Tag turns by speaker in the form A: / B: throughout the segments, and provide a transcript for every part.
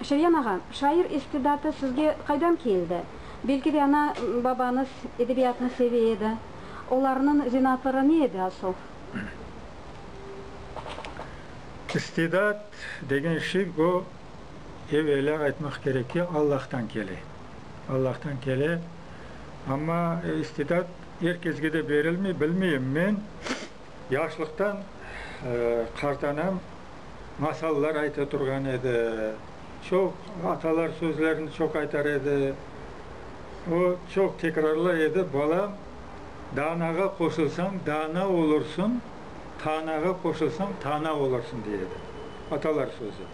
A: Şeryan ağa, şair istidatı sizge qaydan keldi? Belki de, ana, babañız edebiyatnı seve edi. Olarnıñ zenaatları ne edi asıl?
B: İstidat degen şey, bu, evelâ aytmaq kerek ki, Allahtan kele. Allahtan kele. Amma istidat er kesge de berilmey. Bilmeyim, men Yaşlıqtan qartanam, masallar ayta turğan edi. Çoq atalar sözlerini çoq aytar edi. O, çoq tekrarlay edi, Balam, danağa qoşulsañ, dana olursuñ, tanağa qoşulsañ, tana olursuñ, dey edi. Atalar sözü.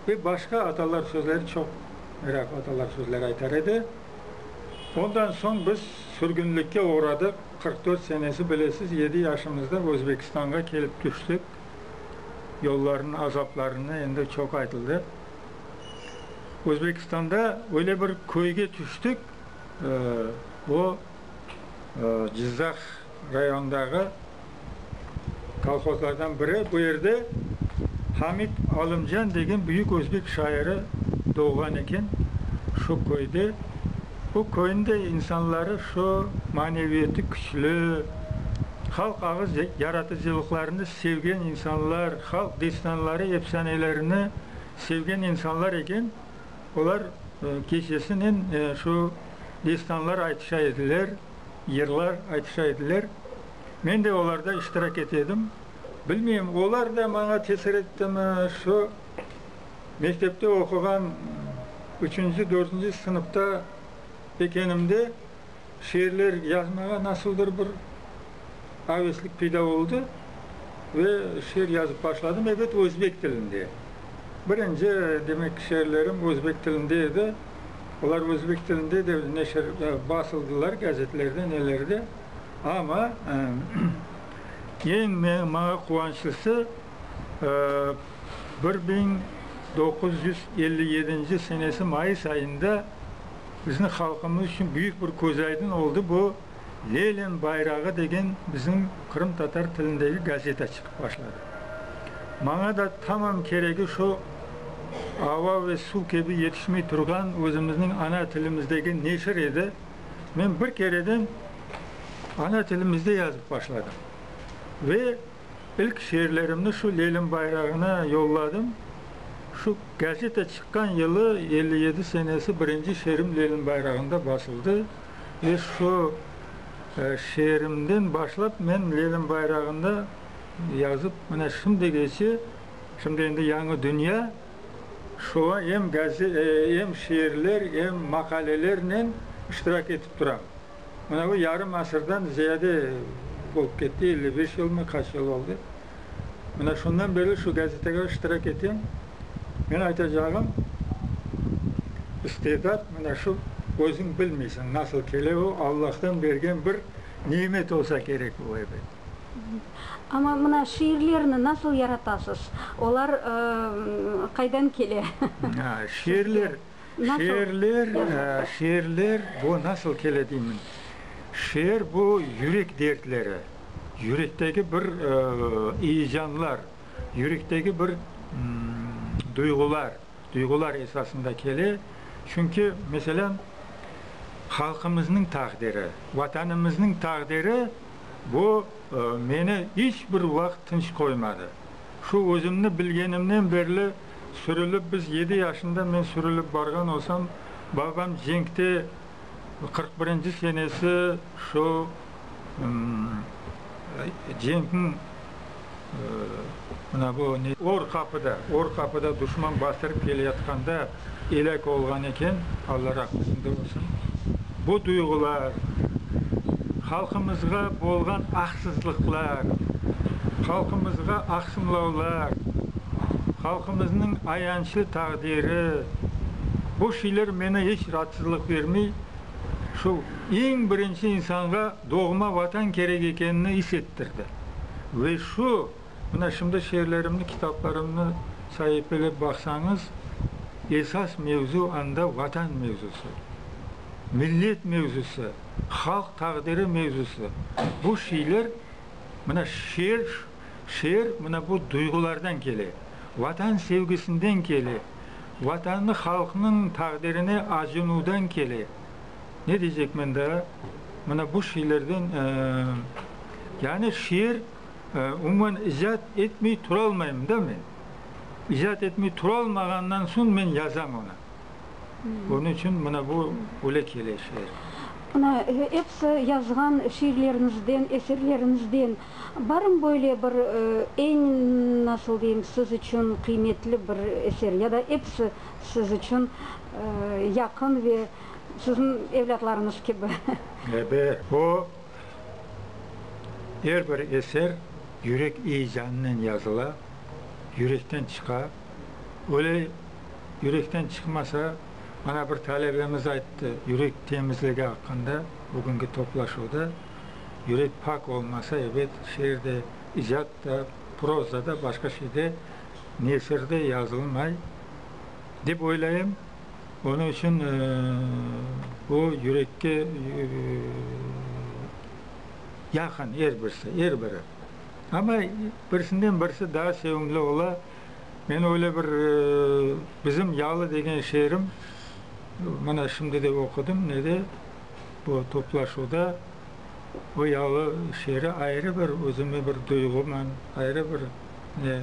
B: Ve başqa atalar sözleri çoq, meraqlı atalar sözleri aytar edi. Ondan soñ biz sürgünlikke oğradıq. Qırq dört senesi, bilesiz, yedi yaşımızda Özbekistanğa kelip tüştik. Yollarnıñ azaplarını endi çoq aytıldı. Özbekistanda öyle bir köyge tüştik, o, Cızdaq rayonındağı kolhozlardan biri. Bu yerde Hamid Alımcan degen büyük özbek şairi doğğan eken, şu köyde. Bu köyniñ de insanları şu maneviyatı küçlü, halq ağız yaratıcılıqlarını sevgen insanlar, halq destanları, efsanelerini sevgen insanlar eken. Olar keçesinen şu destanlar aytışa ediler, yırlar aytışa ediler. Men de olarda iştirak ete edim. Bilmeyim, olar da maña tesir ettimi, şu mektepte oquğan üçünci, dördünci sınıfta ekenimde şiirler yazmağa nasıldır bir aveslik peyda oldı ve şiir yazıp başladım, ebet, özbek tilinde. Birinci, demek, şiirlerim özbek tilinde edi. Olar özbek tilinde de neşir, basıldılar, gazetlerde, nelerde. Amma eñ maña quvançlısı, bir biñ doquz yüz elli yedinci senesi mayıs ayında bizniñ halqımız içün büyük bir közaydın oldı, bu Lenin bayrağı degen bizim qırımtatar tilindeki gazeta çıqıp başladı. Maña da tamam keregi şu ava ve suv kibi yetişmey turğan özümizniñ ana tilimizdeki neşir edi. Men bir kereden ana tilimizde yazıp başladım ve ilk şiirlerimni şu Lelim bayrağına yolladım. Şu gazeta çıqqan yılı, elli yedi senesi, birinci şiirim Lelim bayrağında basıldı ve şu şiirimden başlap men Lelim bayrağında yazıp mine şimdigeçe, şimdi endi yañı dünya, Şuğa em em şiirler, em maqalelernen iştirak etip turam. Mına bu yarım asırdan ziyade olıp ketti, elli beş yılmı, qaç yıl oldı. Mına şundan berli şu gazetege iştirak etem. Meni aytacağım, istedat, mına şu, özüñ bilmeysiñ nasıl kele, o Allahtan bergen bir nimet olsa kerek bu, ebet.
A: Amma mına şiirlerni nasıl yaratasız? Olar qaydan kele? Şiirler, şiirler,
B: şiirler bu nasıl kele deymen, şiir bu yürek dertleri, yürektegi bir eyecanlar, yürektegi bir duyğular, duyğular esasında kele. Çünki, meselân, halqımıznıñ taqdiri, Vatanımıznıñ taqdiri Bu meni iç bir vaqıt tınç qoymadı. Şu özümni bilgenimnen berli sürülip biz yedi yaşında men sürülip barğan olsam, babam cenkte qırq birinci senesi şu cenkniñ Mına bu ne? Or qapıda, or qapıda duşman bastırıp keleyatqanda elâk olğan eken, Alla rahmetinde olsun. Bu duyğular, halqımızğa bolğan aqsızlıqlar, halqımızğa aqsımlavlar, halqımıznıñ ayançlı taqdiri, bu şeyler menı iç raatsızlıq bermey. Şu eñ birinci insanğa Doğma Vatan kerek ekenini is ettirdi. Ve şu, mına şimdi şiirlerimni, kitaplarımnı saipelep baqsañız, esas mevzu anda Vatan mevzusı, millet mevzusı, halq taqdiri mevzusı. Bu şiirler, mına şiir, şiir mına bu duyğulardan kele, Vatan sevgisinden kele, Vatanı halqnıñ taqdirine acınuvdan kele. Ne diycekmen daa, mına bu şiirlerden, yani şiir, umuman, icat etmey turalmayım da men. İcat etmey turalmağandan soñ men yazam onı. Onıñ içün mına bu öyle kele şiir. Mına
A: episi yazğan şiirleriñizden, eserleriñizden barmı böyle bir eñ, nasıl deyim, siz içün qıymetli bir eser ya da episi siz içün yaqın ve Siziñ evlâtlarıñız kibi. Ebe,
B: o, er bir eser yürek eyecanınen yazıla, yürekten çıqa. Öyle yürekten çıqmasa, mana bir talebemiz ayttı, yürek temizligi aqqında bugünki toplaşuvda, yürek pak olmasa, ebet, şiir de, icat da, proza da, başqa şey de, nesir de yazılmay, dep oylayım. Onıñ içün o, yürekke yaqın er birisi, er biri. Amma birisinden birisi daa sevimli ola. Men öyle bir Bizim yalı degen şiirim, mana şimdi de oqudım nede, bu toplaşuvda, o yalı şiiri ayrı bir özüme bir duyğuman, ayrı bir Ne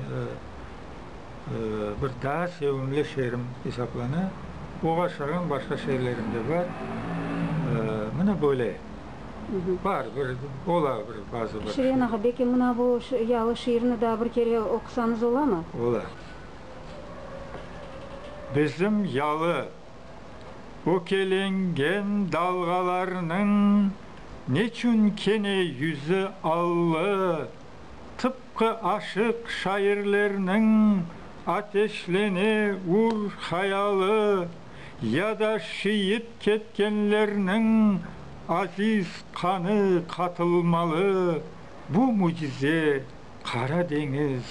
B: bir daa sevimli şeerim esaplana. Oğa şığım, başqa şeerlerim de bar. Mına böyle. Bar, bir ola bir bazı bir. Şirin ağa, belki mına bu
A: yalı şiirni daa bir kere oqusañız olamı? Ola.
B: Bizim yalı ökelengen dalğalarnıñ neçün kene yüzü allı tıpqı aşıq şairlerniñ ateşlene ur hayalı ya da şiit ketkenlerniñ aziz qanı qatılmalı bu mücize Qara deñiz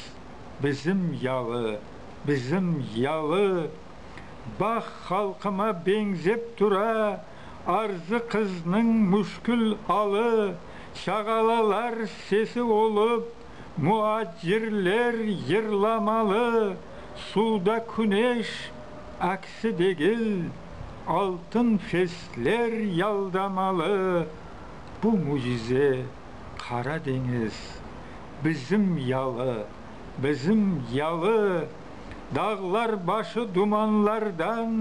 B: bizim yalı, bizim yalı bax halqıma beñzep tura arzı qıznıñ müşkül alı, çağalalar sesi olıp, muacirler yırlamalı, suvda küneş aksi degil, altın fesler yaldamalı. Bu mücize Qara deñiz bizim yalı, bizim yalı. Dağlar başı dumanlardan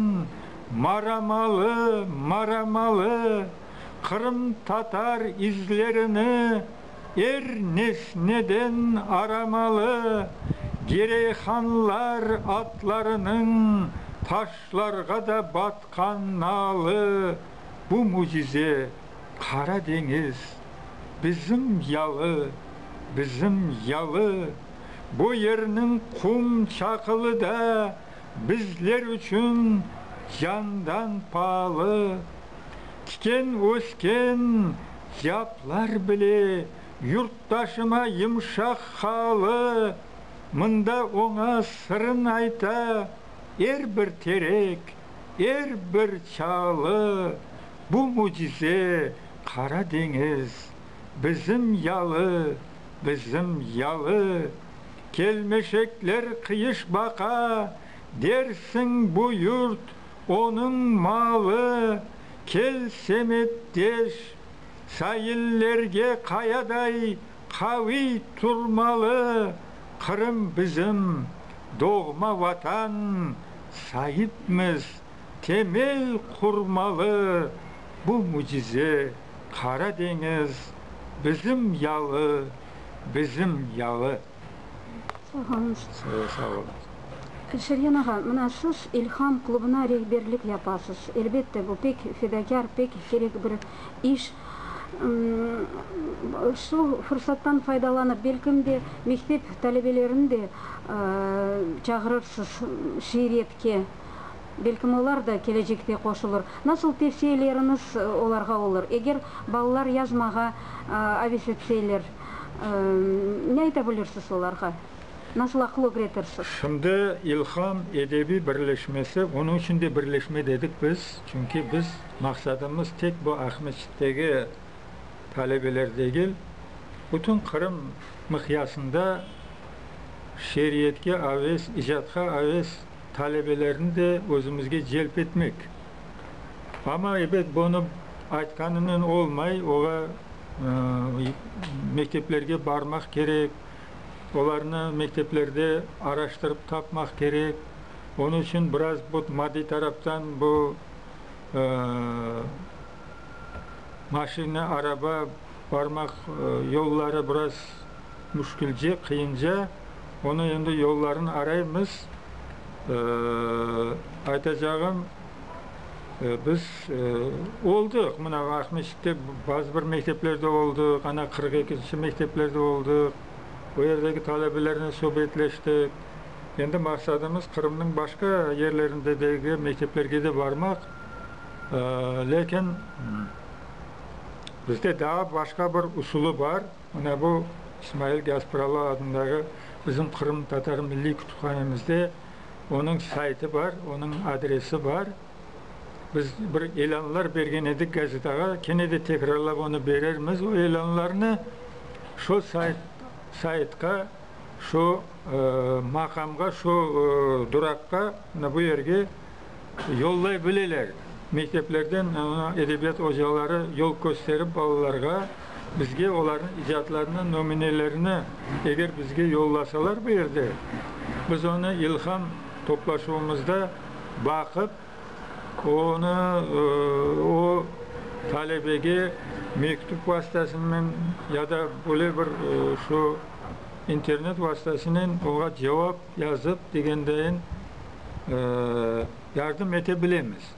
B: maramalı, maramalı, Qırımtatar izlerini er nesneden aramalı, Gireyhanlar atlarınıñ taşlarğa da batqan nalı, Bu mücize, Qara deñiz, bizim yalı, bizim yalı. Bu yerniñ qum çaqılı da bizler içün candan paalı. Tiken ösken yaplar bile yurttaşıma yımşaq haalı. Mında oña sırın ayta er bir terek, er bir çaalı. Bu mücize Qara deñiz Bizim yalı, bizim yalı, Kelmeşekler qıyış baqa, Dersiñ, bu yurt, onıñ malı, Kel, semetdeş, saillerge Qayaday qaviy turmalı, Qırım bizim, doğma Vatan, Saipmiz, temel qurmalı, Bu mücize. Qara deñiz bizim yalı, bizim yalı. Sağ
A: olunız. Size sağ
B: olunız. Şergen ağa, mına
A: siz İlham klubına rehberlik yapasız. Elbette, bu pek fedakâr, pek kerek bir iş. Şu fırsattan faydalanıp, belkim de, mektep talebelerini de çağırırsız şiiriyetke. Belkim olar da kelecekte qoşulır. Nasıl tevsiyeleriñiz olarğa olur, eger balalar yazmağa aves etseyler? Ne ayta bilirsiz olarğa? Nasıl aqıl ögretirsiz? Şimdi İlham
B: edebiy birleşmesi, onıñ içün de birleşme dedik biz, çünki biz maqsadımız tek bu Aqmescitteki talebeler degil, bütün Qırım miqyasında şeeriyetke aves, icatqa aves, Talebelerni de özümizge celp etmek. Amma, ebet, bunı aytqanınen olmay, ola mekteplerge barmaq kerek, olarnı mekteplerde araştırıp tapmaq kerek. Onı içün biraz bu maddiy taraftan bu maşina, araba, barmaq yolları biraz müşkülce, qıyınca. Onı endi yollarını araymız. Aytacağım, biz oldıq, mına Aqmescitte bazı bir mekteplerde oldıq, ana qırq ekinci mekteplerde oldıq, o yerdeki talebelernen subetleştik. Endi maqsadımız Qırımnıñ başqa yerlerindedegi mekteplerge de barmaq, lâkin bizde daa başqa bir usulı bar. Mına bu, İsmail Gaspıralı adındağı bizim Qırım Tatar Milliy Kütüphanemizde onıñ saytı bar, onıñ adresi bar. Biz bir ilânlar bergen edik gazetağa, kene de tekrarlap onı berermiz o ilânlarnı. Şu sayt, saytqa, şu maqamğa, şu duraqqa, mına bu yerge. Yollay bileler. Mekteplerden edebiyat ocaları yol kösterip balalarğa, bizge olarnıñ icatlarınıñ nömunelerini eger bizge yollasalar bu yerde, biz onı ilham toplaşuvımızda baqıp, onı o talebege mektüp vastasınen ya da böyle bir şu internet vastasınen oña cevap Yazıp, degendeyin, yardım ete bilemiz.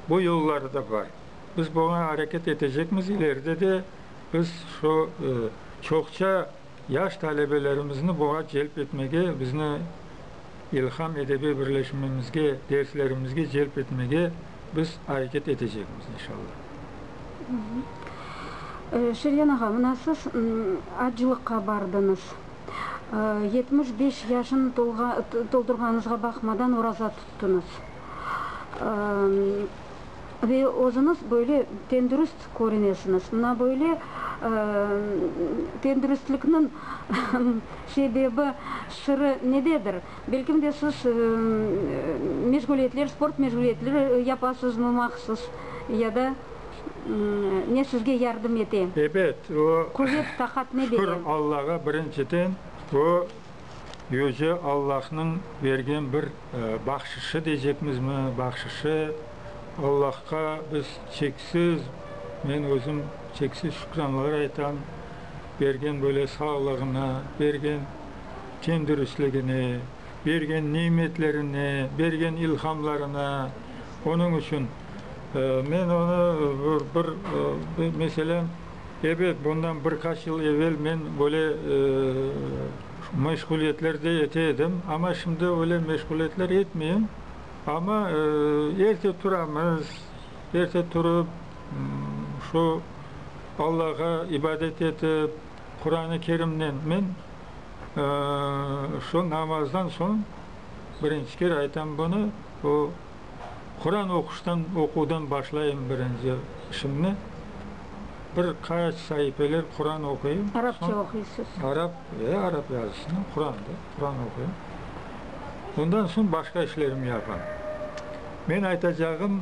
B: Bu yolları da bar. Biz buña areket etecekmiz. İleride de biz şu çoqça yaş talebelerimizni buña celp etmege, bizni İlham edebiy birleşmemizge, derslerimizge celp etmege biz areket etecekmiz, inşallah.
A: Şeryan ağa, mına siz acılıqqa bardıñız. Yetmiş beş yaşını toldurğanıñızğa baqmadan oraza tuttıñız. Ve özüñiz böyle tendürüst körünesiñiz. Mına böyle tendürüstlikniñ sebebi, sırı nededir? Belkim de siz meşğuliyetler, sport meşğuliyetleri yapasızmı mahsus ya da? Ne sizge yardım ete? Ebet, o.
B: Quvet, taqat ne
A: bere? Şükür Allağa, birinciden,
B: o, yüce Allahnıñ bergen bir bahşışı deycekmizmi, bahşışı. Allahqa biz çeksiz, men özüm çeksiz şükranlar aytam, bergen böyle sağlığına, bergen ten-dürüsligine. bergen nimetlerine, bergen ilhamlarına. Onıñ içün men onı bir, meselem, ebet, bundan bir qaç yıl evel men böyle meşğuliyetlerde ete edim, amma şimdi öyle meşğuliyetler etmeyim. Amma erte turamız, erte turıp, şu Allağa ibadet etip, Quran-ı Kerimnen men. Şu namazdan soñ birinci kere aytam bunı, o Quran oquştan, oquvdan başlayım birinci işimni. Bir qaç saifeler Quran oquyım. Arapça oquysız?
A: Arap, e, arap
B: yazısını, Quran da, Quran oquyım. Ondan soñ başqa işlerimni yapam. Men aytacağım,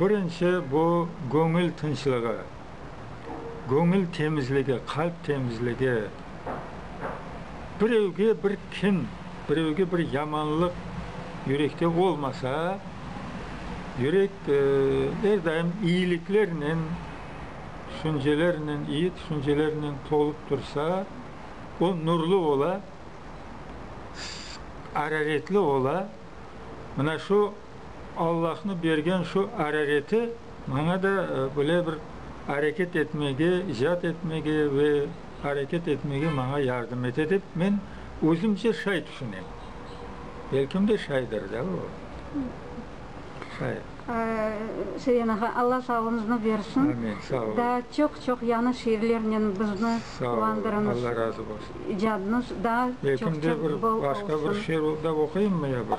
B: birinci bu göñül tınçlığı. göñül temizligi, qalp temizligi, birevge bir kin, birevge bir yamanlıq yürekte olmasa, yürek er daim iyiliklernen, tüşüncelernen, iyi tüşüncelernen tolup tursa, o nurlu ola, araretli ola. Mına şu Allahnıñ bergen şu arareti. Maña da böyle bir areket etmege, icat etmege ve areket etmege maña yardım ete dep men özümce şay tüşünem. Belkim de şaydır da o. Şay.
A: Şayan ağa, Alla sağlığıñıznı bersin. Amin, sağ olun. Daa
B: çoq-çoq
A: yañı şiirlernen bizni quvandırıñız. Sağ olun, Alla razı bolsun.
B: İcadınız daa çoq-çoq
A: bol olsun. Belkim de bir
B: başqa
A: bir
B: şiir
A: da
B: oquyımmı ya bir?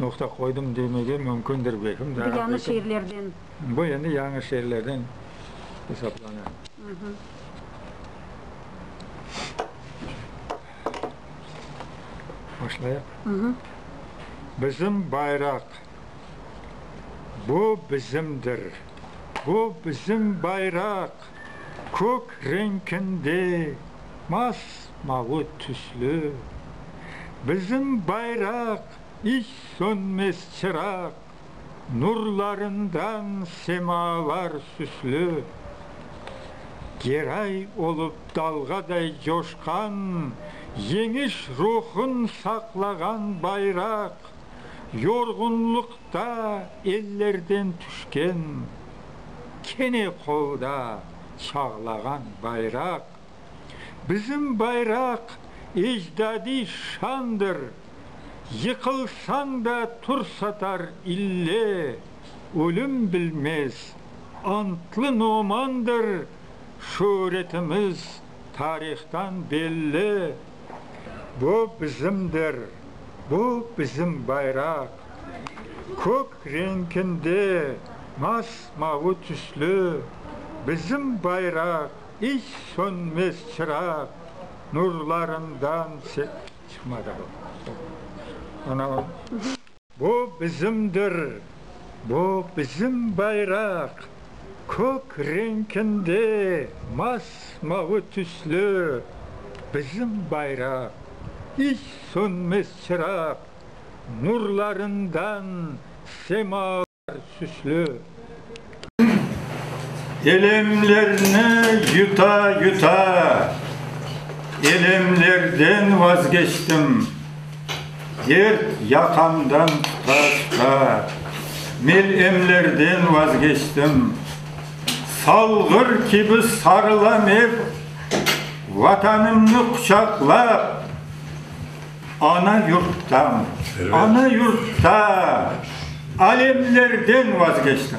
B: noqta qoydım demege mümkündir, belkim, daa. Bu yañı şeerlerden.
A: Bu endi
B: yañı şeerlerden esaplana. Başlayaq? Bizim bayraq, bu bizimdir. Bu bizim bayraq, kök reñkinde, mas Mavı tüslü bizim bayraq, İç sönmez çıraq, Nurlarından semâlar süslü. Geray olıp dalğaday coşqan, Yeñiş ruhun saqlağan bayraq, Yorğunlıqta ellerden tüşken, Kene qolda çağlağan bayraq. Bizim bayraq ecdadiy şandır, Yıqılsañ da tur satar ille, Ölüm bilmez, antlı nomandır, Şöğretimiz tarihtan belli. Bu bizimdir, bu bizim bayraq, Kök renkinde mas-mavı tüslü, Bizim bayraq İç sönmez çıraq nurlarından çıqmadı bu. Ana o. Bu bizimdir, bu bizim bayraq, kök renkinde mas-mavı tüslü bizim bayraq, iç sönmez çıraq nurlarından sema. Elemlerni yuta-yuta, elemlerden vazgeçtim, Dert yaqamdan tuta-tuta, melemlerden vazgeçtim. Salğır kibi sarılam ep, Vatanımnı quçaqlap. Ana yurttan, ana yurttan, alemlerden vazgeçtim.